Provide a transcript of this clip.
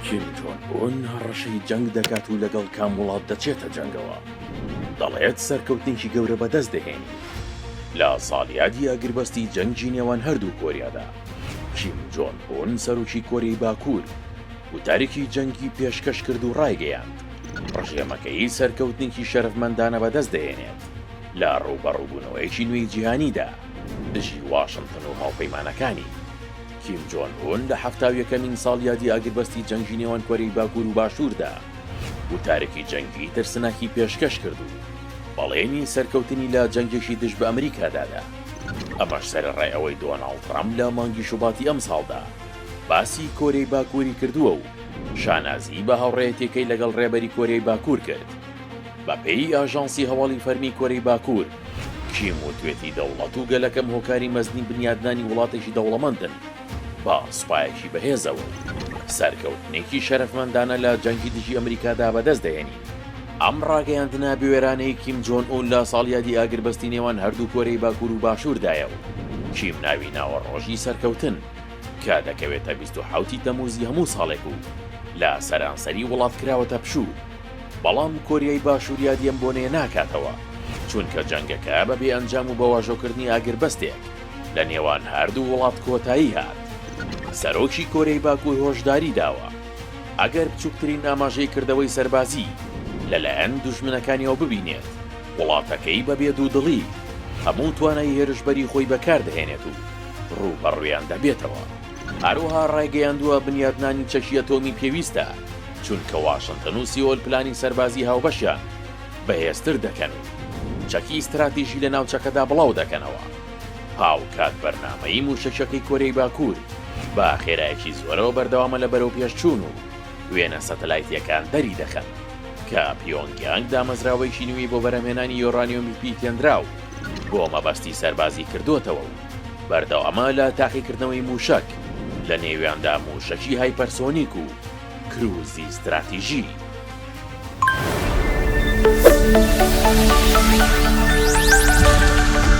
کیم جۆن ئون هەڕەشەی جەنگ دەکات و لەگەڵ کام وڵات دەچێتە جەنگەوە؟ دەڵێت سەرکەوتنێکی گەورە بەدەست دەهێنین لە ساڵیادی ئەگربەستی جەنگی نێوان هەردوو کۆریادا. کیم جۆن ئون سەرۆکی کۆریای باکوور وتارێکی جەنگی پێشکەش کرد و ڕایگەیاند ڕژێمەکەی سەرکەوتنێکی شەرەفمەندانە بەدەست دەهێنێت لە ڕووبەڕووبوونەوەیەکی نوێی جیهانیدا دژی واشنتن و هاوپەیمانەکانی. کیم جۆن ئون لە حەفتا و یەکەمین ساڵیادی ئاگربەستی جەنگی نێوان کۆرەی باکوور و باشووردا وتارێکی جەنگی ترسناکی پێشکەش کرد و بەڵێنی سەرکەوتنی لە جەنگێکی دژ بە ئەمریکادا دا. ئەمەش سەرەڕای ئەوەی دۆناڵد ترەمپ لە مانگی شوباتی ئەمساڵدا باسی کۆرەی باکووری کردووە و شانازی بە هاوڕێیەتییەکەی لەگەڵ ڕێبەری کۆرەی باکوور کرد. بەپێی ئاژانسی هەواڵی فەرمی کۆرەی باکوور، کیم وتوێتی دەوڵەت و گەلەکەم هۆکاری مەزنی بنیادنانی وڵاتێکی دەوڵەمەندن بە سوپایەکی بەهێزەوە و سەرکەوتنێکی شەرەفمەندانە لە جەنگی دژی ئەمریکادا بەدەست دەهێنین. ئەم ڕاگەیاندنە بوێرانەی کیم جۆن ئون لە ساڵیادی ئاگربەستی نێوان هەردوو کۆرەی باکوور و باشووردایە و کیم ناوی ناوە ڕۆژی سەرکەوتن کە دەکەوێتە بیست و حەوتی تەمووزی هەموو ساڵێک و لە سەرانسەری وڵات کراوەتە پشوو. بەڵام کۆریای باشوور یادی ئەم بۆنەیە ناکاتەوە، چونکە جەنگەکە بە بێ ئەنجام و بە واژۆکردنی ئاگربەستێک لە نێوان هەردوو وڵات کۆتایی هات. سەرۆکی کۆریای باکوور هۆشداری داوە، ئەگەر بچووکترین ئاماژەی کردەوەی سەربازی لەلایەن دوژمنەکانیەوە ببینێت، وڵاتەکەی بە بێ دوودڵی هەموو توانای هێرشبەری خۆی بەکاردەهێنێت و ڕووبەڕوویان دەبێتەوە. هەروەها ڕایگەیاندووە، بنیاتنانی چەکی ئەتۆمی پێویستە. چونکە واشنتن و سیئۆل پلانی سەربازی هاوبەشیان بەهێزتر دەکەن و چەکی ستراتیژی لە ناوچەکەدا بڵاو دەکەنەوە، هاوکات بەرنامەی مووشەکییەکەی کۆریای باکوور بە خێرایەکی زۆرەوە بەردەوامە لە بەرەوپێشچوون و وێنە سەتەلایتییەکان دەریدەخەن کە پیۆنگیانگ دامەزراوەیەکی نوێی بۆ بەرهەمهێنانی یۆرانیۆمی پیتێنراو بۆ مەبەستی سەربازی کردووەتەوە و بەردەوامە لە تاقیکردنەوەی مووشەک، لەنێویاندا مووشەکی هایپەرسۆنیک و. کرووزی ستراتیژی.